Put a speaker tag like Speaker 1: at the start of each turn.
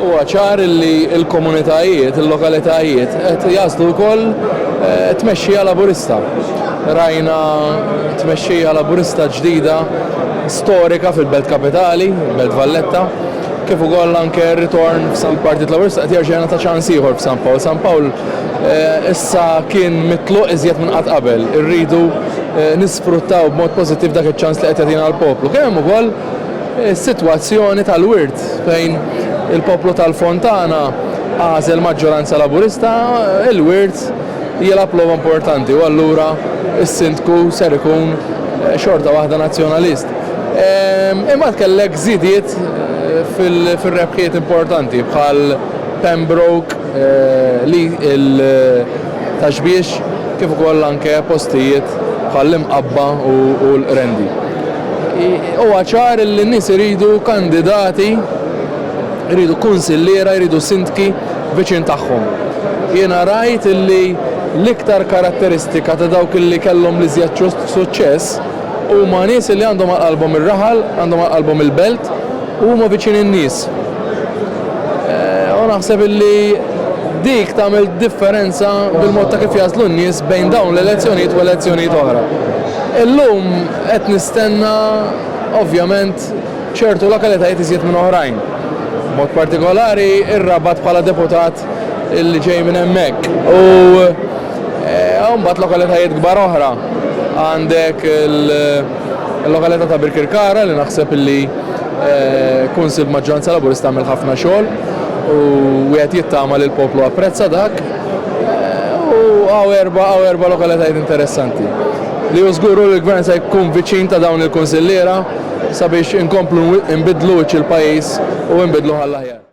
Speaker 1: Huwa ċar li l-komunitajiet, il-lokalitajiet qed jagħżlu wkoll eh, tmexxija laburista. Rajna tmexxija laburista ġdida storika fil-Belt Kapitali, Belt Valletta, kif ukoll anke ritorn f'San Partit Laburista qed jerġa' ta' ċans ieħor f'San Pawl. San Pawl eh, issa kien mitluq iżjed minn qatt qabel. Irridu eh, nisfruttaw b'mod pożittiv dak iċ-ċans li qed jagħtina l-poplu. Kemm ukoll is-sitwazzjoni tal-wirt fejn il-poplu tal-Fontana għażel maġġoranza Laburista, il-wirt jilgħab logħba importanti u allura s-Sindku ser ikun xorta waħda Nazzjonalist. Imbagħad kellek żidiet fir-rebħiet importanti bħal Pembroke, Ta' Xbiex kif ukoll anke postijiet bħall-Imqabba u l-Qrendi. Huwa ċar li n-nies iridu kandidati, iridu kunsilliera, iridu sindki viċin tagħhom. Jiena rajt li l-iktar karatteristika ta' dawk li kellhom l-iżjed suċċess huma nies li għandhom għal qalbhom ir-raħal, għandhom għal qalbhom il-belt u huma viċin in-nies. U naħseb li dik tagħmel differenza bil-mod ta' kif jagħżlu n-nies bejn dawn l-elezzjonijiet u elezzjonijiet oħra. Illum qed nistenna ovvjament ċertu lokalitajiet iżjed minn oħrajn. B'mod partikolari r-Rabat bħala deputat li ġej minn hemmhekk. U hawn mbagħad lokalitajiet kbar oħra. Għandek il-lokalità ta' Birkirkara li naħseb li kunsill b'maġġoranza Laburista għamel ħafna xogħol u wieħed jittama li l-poplu apprezza dak. U għaw erba' għaw erba' lokalitajiet interessanti li hu żgur hu li l-Gvern se jkun viċin ta' dawn il-kunsilliera sabiex inkomplu nbidlu wiċċ il-pajjiż u nbidluh għall-aħjar.